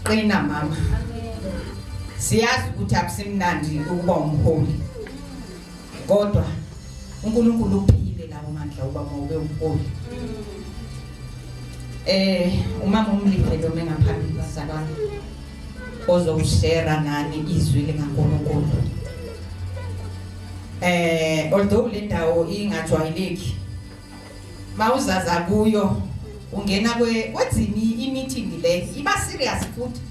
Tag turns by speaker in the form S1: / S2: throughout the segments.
S1: qina mama siyazi ukuthi akusimnandi ukuba umholi kodwa uNkulunkulu uphile lawo mandla uba mawube umholi eh umama umlindele uma ngaphambili bazalwane ozoshare nani izwi likaNkulunkulu eh although le ndawo ingajwayeleki mawuzaza kuyo ungena kwe wathini imeeting le iba serious futhi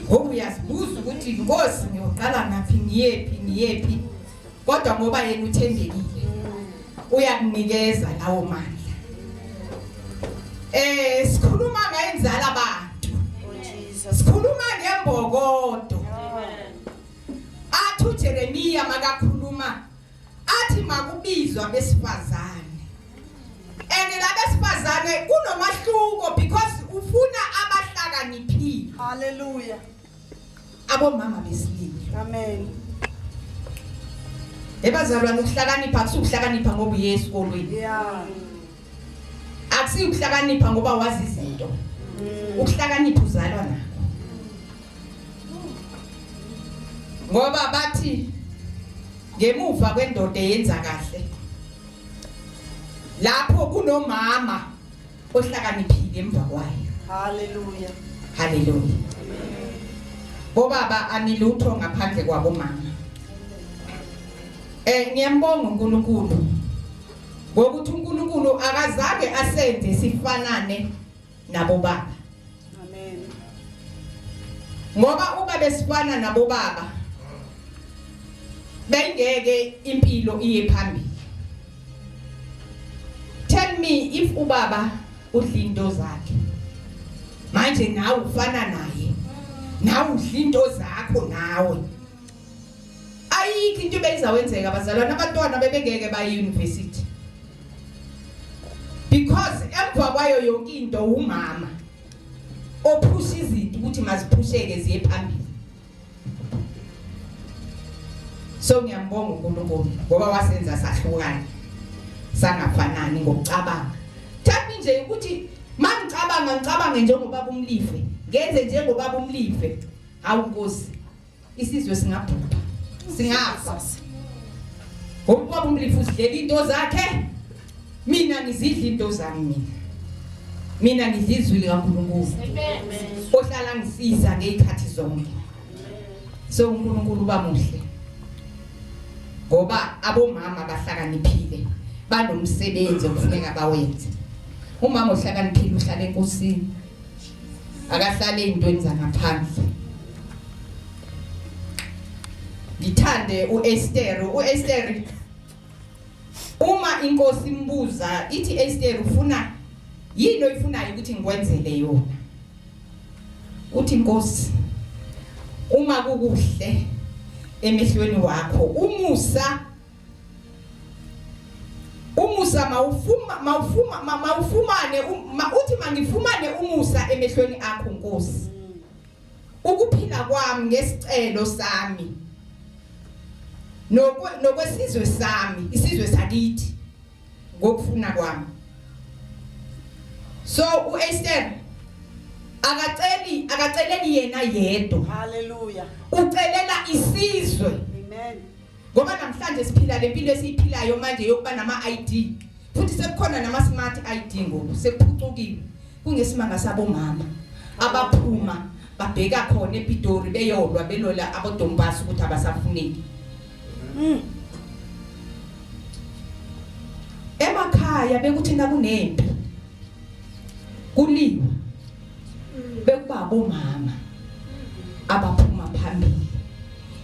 S1: ngoba uyazibuza ukuthi inkosi ngiyoqala ngaphi ngiyephi ngiyephi kodwa ngoba yena uthembekile uyakunikeza lawo mandla eh sikhuluma ngayenzala abantu sikhuluma ngembokodo athu Jeremiya makakhuluma athi makubizwa abesifazane and labesifazane kunomahluko because ufuna abahlakaniphile haleluya abomama besilili amen ebazalwane ukuhlakanipha kusukuhlakanipha ngoba uye esikolweni yeah
S2: akusiyo
S1: ukuhlakanipha ngoba wazi izinto mm. ukuhlakanipha uzalwa nakho ngoba bathi ngemuva kwendoda eyenza kahle lapho kunomama ohlakaniphile emva kwayo haleluya
S2: haleluya
S1: bobaba anilutho ngaphandle kwabomama eh ngiyambonga uNkulunkulu ngokuthi uNkulunkulu akazange asenze sifanane nabo baba amen ngoba uma besifana nabo baba bengeke impilo iye phambili tell me if ubaba udla into zakhe manje nawe ufana naye nawe udla into zakho nawe ayikho into ebeyizawenzeka abazalwane abantwana bebengeke baye university because emva kwayo yonke into umama ophusha izinto ukuthi maziphusheke ziye phambili so ngiyambonga uNkulunkulu ngoba wasenza sahlukana sangafanani ngokucabanga thathi nje ukuthi mangicabanga ngicabange njengoba kumlive ngenze njengoba kumlive hawu nkosi Isizwe singabhubha. Singafa. Ngokuba umlifu usidlela into zakhe. Mina ngizidla into zami mina. Mina ngidla izwi likaNkulunkulu. Amen. Ohlala ngisiza ngezikhathi zonke. So uNkulunkulu uba muhle. Ngoba abomama bahlakaniphile banomsebenzi okufuneka bawenze. Umama ohlakaniphile uhlala enkosini. akahlale ezintweni zangaphandle ngithande uEsther uEsther uma inkosi imbuza ithi Esther ufuna yini oyifunayo ukuthi ngikwenzele yona uthi inkosi uma kukuhle emehlweni wakho umusa umusa mawufuma mawufuma mawufumane uthi mangifumane umusa emehlweni akho Nkosi ukuphila kwami ngesicelo sami nokwesizwe sami isizwe sakithi ngokufuna kwami so uEsther akaceli akaceleli yena yedwa haleluya
S2: ucelela
S1: isizwe amen
S2: ngoba namhlanje
S1: siphila le mpilo esiyiphilayo manje yokuba nama-id futhi sekukhona nama-smart id ngoku sekuphucukile kungesimanga sabomama abaphuma babheka khona epitori beyolwa belola abodombasi ukuthi abasafuneki mm. emakhaya bekuthi nakunempi kuliwa bekuba abomama abaphuma phambili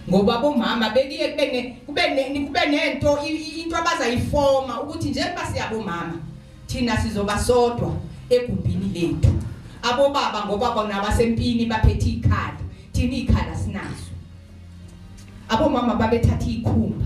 S1: ngoba abomama bekuye kube ne kube ne kube nento into abazayifoma ukuthi njengoba siyabomama thina sizoba sodwa egumbini lethu abobaba ngoba bona basempini baphethe ikhala thina ikhala sinazo abomama babethatha ikhumba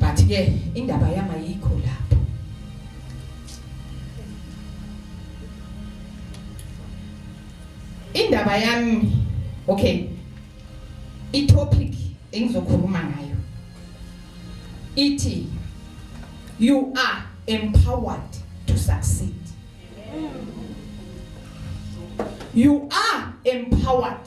S1: but ke indaba yami ayikho lapho indaba yami okay itopic engizokhuluma ngayo ithi you are empowered to succeed you are empowered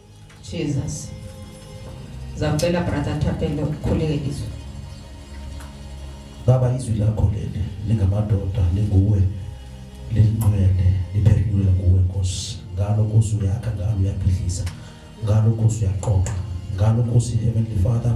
S3: Jesus
S1: zakucela brother Thapelo ukhuleke izwi
S3: baba izwi lakho leli lingamadoda linguwe lelingcwele liphendulwe nguwe nkosi ngalo nkosi uyakha ngalo uyaphilisa ngalo nkosi uyaqoqa ngalo nkosi heavenly father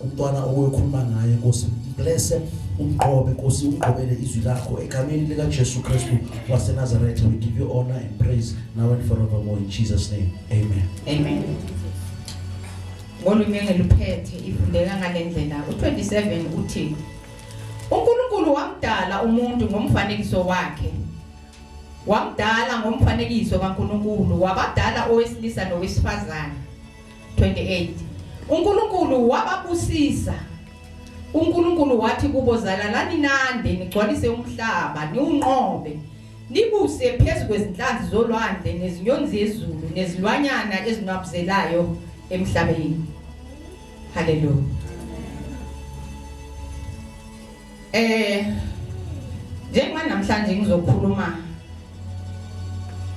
S3: umntwana owekhuluma naye nkosi mblese umgqobe nkosi umgqobele izwi lakho egameni likajesu kristu wasenazaretha we give you honor and praise now and forevermore in jesus name amen amen
S1: ngolunye ngeluphethe ifundeka ngale ndlela u-27 uthi unkulunkulu wamdala umuntu ngomfanekiso wakhe wamdala ngomfanekiso kankulunkulu wabadala owesilisa nowesifazane 28 uNkulunkulu wababusisa uNkulunkulu wathi kubo zalalani nande nigcwalise umhlaba niwunqobe nibuse phezu kwezinhlanzi zolwandle nezinyoni zezulu nezilwanyana ezinwabuzelayo emhlabeni haleluya eh njengoba namhlanje ngizokhuluma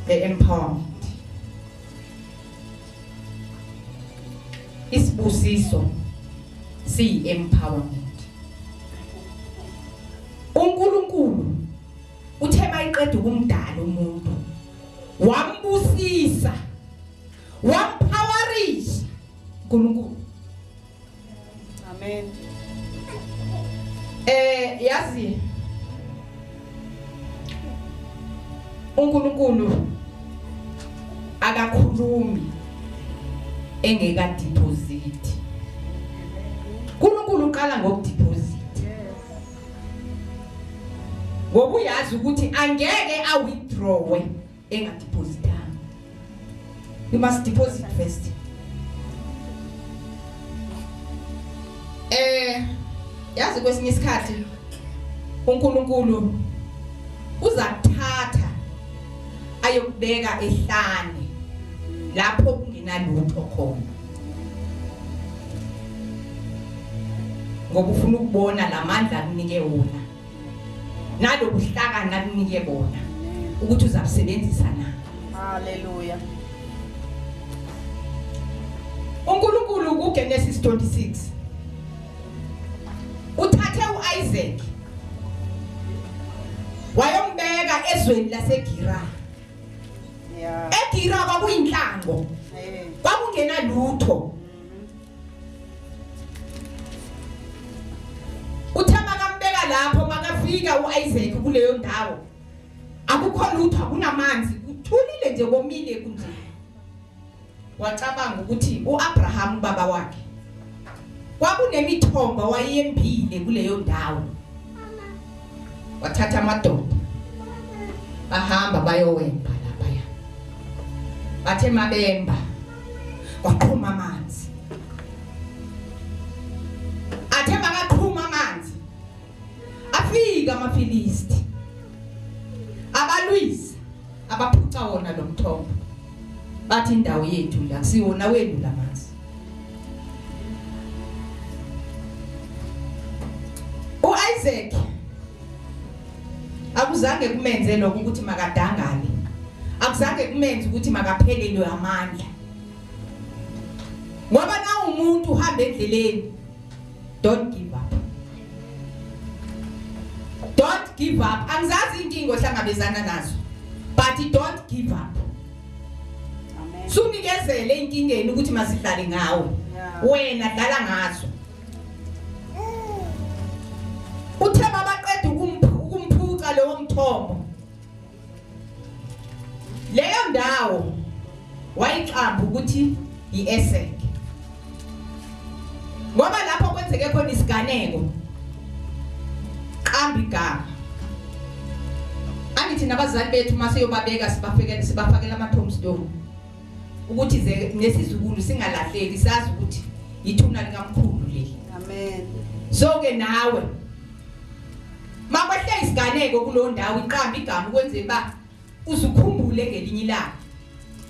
S1: nge-empowerment isibusiso siyi empowerment uNkulunkulu uthe mayiqeda ukumdala umuntu wambusisa wamphawarisa uNkulunkulu
S2: Amen.
S1: Eh yazi uNkulunkulu akakhulumi engeka deposit. uNkulunkulu uqala ngokudeposit ngokuyazi ukuthi angeke awithdrawe engadepositanga you must deposit first eh yazi kwesinye isikhathi uNkulunkulu uza kuthatha ayokubeka ehlane lapho kungenalutho khona ngoba ufuna ukubona lamandla akunike wona nalobuhlakani akunike bona ukuthi uzabusebenzisa na haleluya uNkulunkulu kuGenesis 26 uthathe uIsaac wayombeka ezweni laseGera
S2: yeah eGera
S1: kwakuyinhlango kwakungenalutho Uthe makambeka lapho makafika uIsaac kuleyo ndawo. Akukho lutho akunamanzi kuthulile nje komile kunje. Wacabanga ukuthi uAbraham baba wakhe kwakunemithombo wayembile kuleyo ndawo. Wathatha amadoda bahamba bayowemba laphaya bathe mabemba kwaqhuma amanzi athe makaqhuma amanzi afika amaFilisti abalwisa abaphuca wona lo mthombo bathi indawo yethu la siwona wenu la manzi uIsaac akuzange kumenze lokho ukuthi makadangale akuzange kumenze ukuthi makaphelelwe amandla ngoba na umuntu uhamba endleleni don't give up don't give up angizazi inkingo hlangabezana nazo but don't give
S2: up sunikezele
S1: inkingeni ukuthi masidlale ngawe wena dlala ngazo Uthe babaqeda ukumphuca lowo mthombo. Leyo ndawo wayixamba ukuthi yi-Esek. Ngoba lapho kwenzeke khona isiganeko qamba igama. Angithi nabazali bethu mase yobabeka sibafekele sibafakela ama tombstone. ukuthi ze nesizukulu singalahleki sazi ukuthi yithuna likamkhulu leli amen
S2: so ke
S1: nawe makwehle isiganeko kulo ndawo iqamba igama ukwenze ba uzukhumbule ngelinye ilanga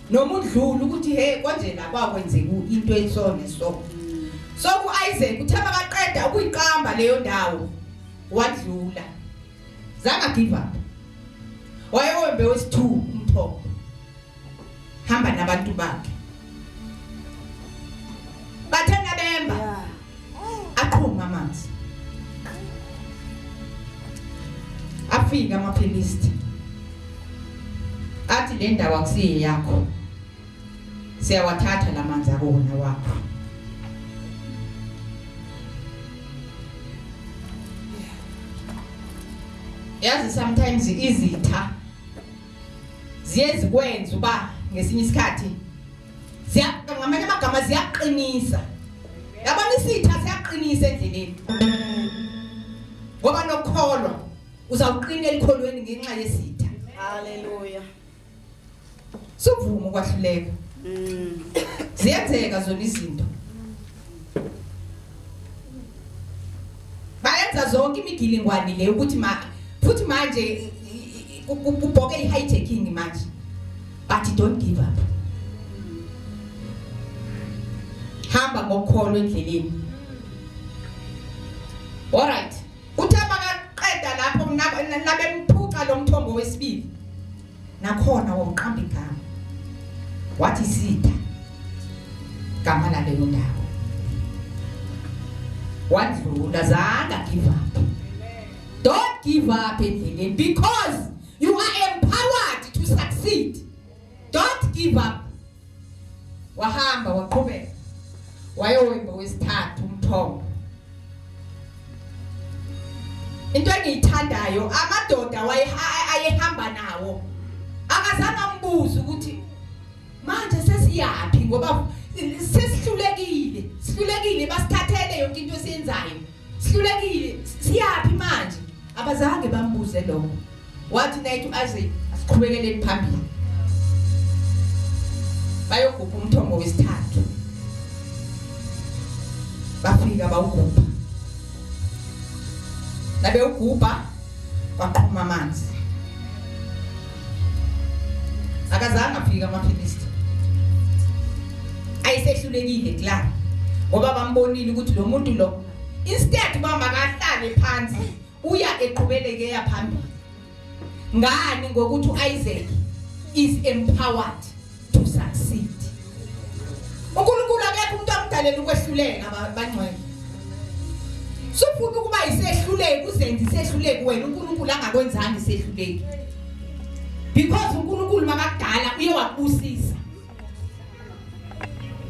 S1: noma udlula ukuthi he konje la kwakwenzeka into ensone so so ku Isaac uthe makaqeda ukuyiqamba leyo ndawo wadlula zanga give up wayewembe wesithuku umthombo hamba nabantu bakhe bathe nabemba aqhuma amanzi afika amaphilisti athi le ndawo akusiyeyakho siyawathatha la manzi akuwona wakho yazi sometimes izitha ziye zikwenza uba ngesinye isikhathi ngamanye amagama ziyaqinisa yabona isitha siyaqinisa endleleni ngoba nokukholwa uzawuqina elikholweni ngenxa yesitha haleluya Suvuma ukwahluleka. Mm. Ziyenzeka zona izinto. Bayenza zonke imigilingwane le ukuthi ma futhi manje kubhoke i-hijacking manje. But don't give up. Hamba ngokholo endleleni. All right. Kuthe makaqeda lapho nabemphuca lo mthombo wesibili nakhona womqamba igama wathi sitha gama laleyo ndawo wadlula zanga give up don't give up endleleni because you are empowered to succeed don't give up wahamba waqhubeka wayowimba wesithathu umthombo into engiyithandayo amadoda ayehamba nawo akazange ambuze ukuthi manje sesiyaphi ngoba sesihlulekile sihlulekile basithathele yonke into esiyenzayo sihlulekile siyaphi manje abazange bambuze lokho wathi nayithi u-isaac asiqhubekeleni phambili bayogubha umthombo wesithathu bafika bawugubha nabewugubha kwaqhuma amanzi akazange afike amaphilisi ayisehlulekile kla ngoba bambonile ukuthi lo muntu lo instead uba makahlale phansi uya eqhubeleke yaphambili ngani ngokuthi uIsaac is empowered to succeed uNkulunkulu akekho umuntu amdalela ukwehluleka bangcwele sufuna ukuba isehluleki uzenze isehluleki wena uNkulunkulu angakwenzanga isehluleki because uNkulunkulu makadala uye wakubusisa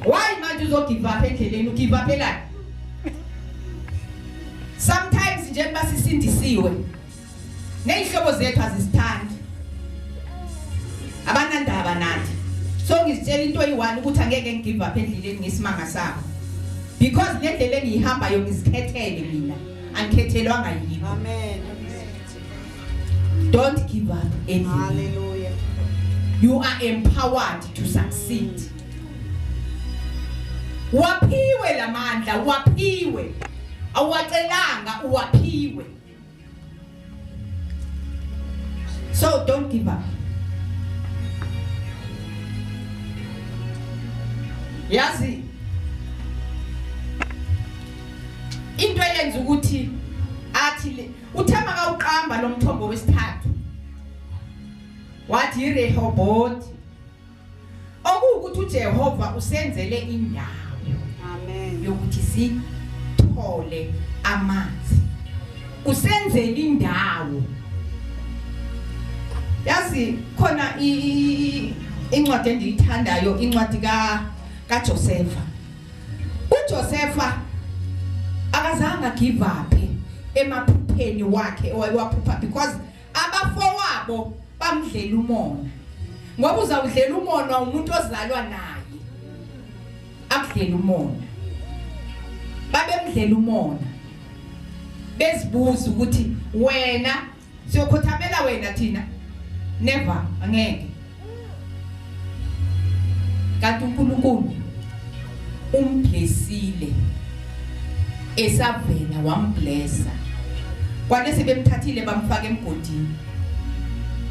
S1: why manje uzogive up endleleni ugive up elani sometimes njengoba sisindisiwe Nezihlobo zethu azisithandi. Abanandaba nathi. So ngizitshela into eyi-one ukuthi angeke ngigive up endleleni ngesimanga sabo. Because le ndlela engiyihambayo ngizikhethele mina. Angikhethelwanga yini. Amen. Don't give up endleleni. Hallelujah.
S2: You
S1: are empowered to succeed. Waphiwe lamandla, waphiwe. Awacelanga, waphiwe. So don't give up. Yazi into eyenza ukuthi athi le uthema kawuqamba lomthombo wesithathu wathi iRehoboth okuwukuthi uJehova usenzele indawo amen
S2: yokuthi
S1: sithole amanzi usenzele indawo yazi khona incwadi endiyithandayo incwadi ka kaJosefa uJosefa akazange give up emaphupheni wakhe owayewaphupha because abafowabo bamdlela umona ngoba uzawudlela umona umuntu ozalwa naye akudlela umona babemdlela umona bezibuza ukuthi wena siyokhothamela wena thina never angeke kanti uNkulunkulu umblesile esavela wamblesa kwale sebemthathile bamfaka emgodini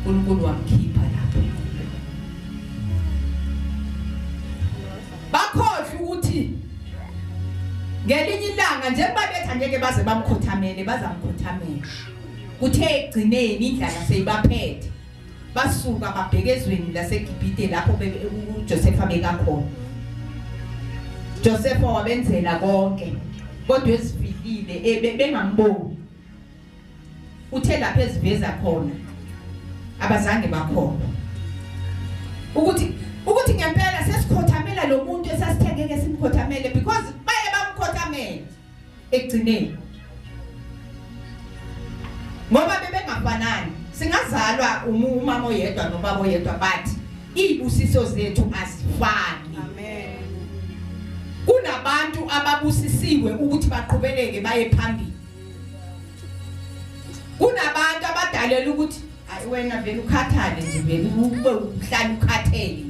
S1: uNkulunkulu wamkhipha lapho bakhohle ukuthi ngelinye ilanga njengoba bethi angeke baze bamkhothamele bazamkhothamela kuthe ekugcineni indlala seyibaphethe basuka babheke ezweni laseGibhite lapho uJosefa bekakhona Josefa wabenzela konke kodwa esifikile eh, bengamboni uthe lapha eziveza khona abazange bakhona ukuthi ukuthi ngempela sesikhothamela lo muntu esasithengeke simkhothamele because baye bamkhothamela ekugcineni ngoba bebengafanani singazalwa umama oyedwa nobaba oyedwa but izibusiso zethu azifani
S2: amen kunabantu
S1: ababusisiwe ukuthi baqhubeleke baye phambili kunabantu abadalela ukuthi Hayi wena vele ukhathale nje vele ube uhlala ukhathele nje.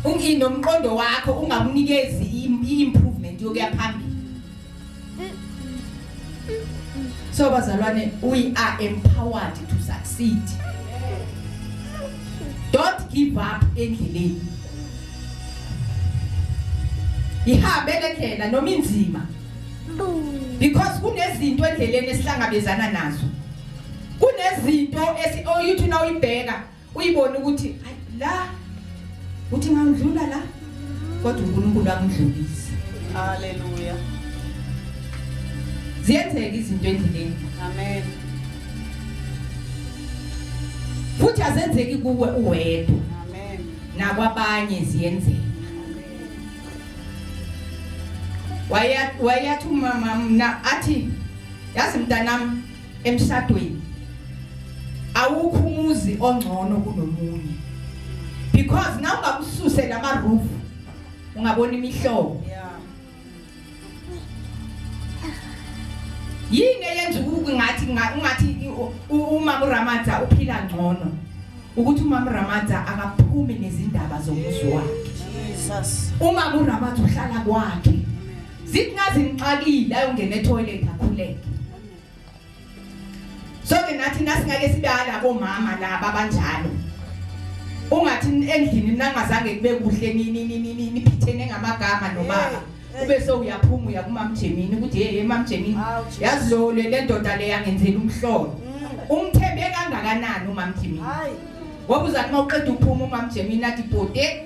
S1: Ungi nomqondo wakho ungamunikezi i- improvement yokuya phambili. So bazalwane we are empowered to succeed. Don't give up endleleni. Ihambe le ndlela noma inzima because kunezinto endleleni esihlangabezana nazo. kunezinto esi oyuthi oh, na uyibheka uyibona ukuthi la uthi ngangidlula la kodwa uNkulunkulu akudlulise haleluya ziyenzeka izinto endleleni amen futhi azenzeki kuwe uwedwa amen
S2: nakwabanye
S1: ziyenzeka wayathi umama mna athi yazi mntanami emshadweni awukho umuzi ongcono kunomunye because na ungakususe lama roof ungabona imihlobo yini eyenza ngathi ngathi umama uRamadza uphila ngcono ukuthi umama uRamadza akaphumi nezindaba zomuzi wakhe Jesus
S2: umama uRamadza
S1: uhlala kwakhe zithi ngazi ngixakile ayongena etoilet akhuleke Sonke nathi nasingake sibala bomama laba banjalo. Ungathi endlini nangazange kube kuhle nini nini nini phithene ngamagama nobaba. Ube so uyaphuma uya kumamjemini ukuthi hey mamjemini yazi lo le ndoda le yangenzela umhlolo. Mm. Umthembe kangakanani umamjemini? Hayi. Ngoba
S2: uzathi
S1: mawuqeda uphuma umamjemini athi bhode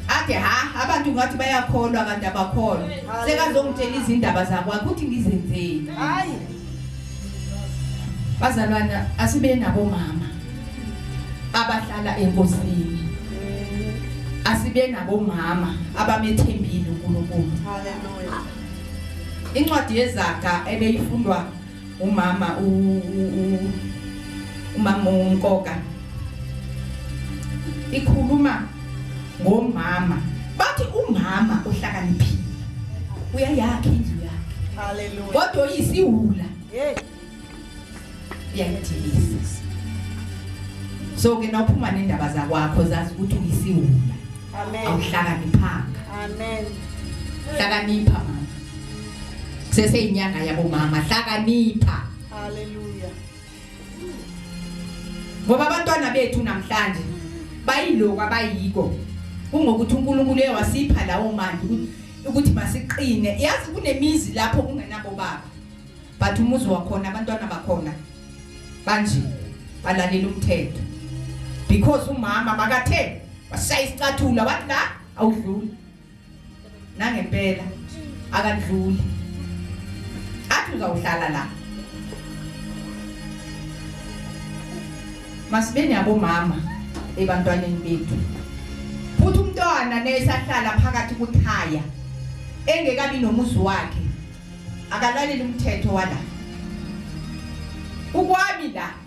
S1: Ade ha abantu ngathi bayakholwa kanti abakholwa. Sekazongitshela izindaba zakwakhe ukuthi ngizenzeni. Hayi. Bazalwana asibe nabo mama abahlala enkosini. Asibe nabo mama abamethembile uNkulunkulu. Haleluya. Incwadi yezaga ebeyifundwa Umama u, u, u umama unkoka. Ikhuluma ngomama. Bathi umama uhlakaniphile. Uyayakha indlu yakhe. Hallelujah. Kodwa
S2: uyisiwula. Hey.
S1: Uyayithilisa. So ke nawuphuma nendaba zakwakho zazi ukuthi uyisiwula. Amen.
S2: Awuhlakaniphanga.
S1: Amen. Hlakanipha mama. seseyinyanga yabo mama hlakanipha haleluya ngoba abantwana bethu namhlanje bayiloko abayiko kungokuthi uNkulunkulu uyawasipha lawo manje ukuthi masiqine yazi kunemizi lapho kungenabo baba but umuzi wakhona abantwana bakhona banje balalela umthetho because umama makathe washaya isicathulo wathi la awudluli nangempela akadluli athi uzawuhlala la masibeni abomama ebantwaneni bethu futhi umntwana nesahlala phakathi kuthaya engekabi nomuzi wakhe akalaleli umthetho wala ukwami la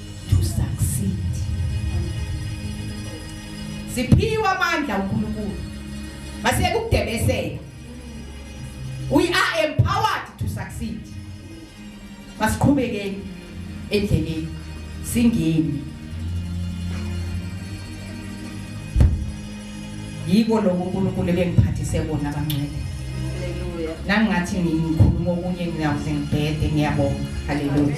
S1: to succeed siphiwe amandla uNkulunkulu masiyeke ukudebesela we are empowered to succeed masiqhubekeni endleleni singeni yiko lokho uNkulunkulu ebengiphathise kona abangcwele haleluya nangathi ngikhuluma okunye ngiyawuze
S2: ngibhede
S1: ngiyabonga haleluya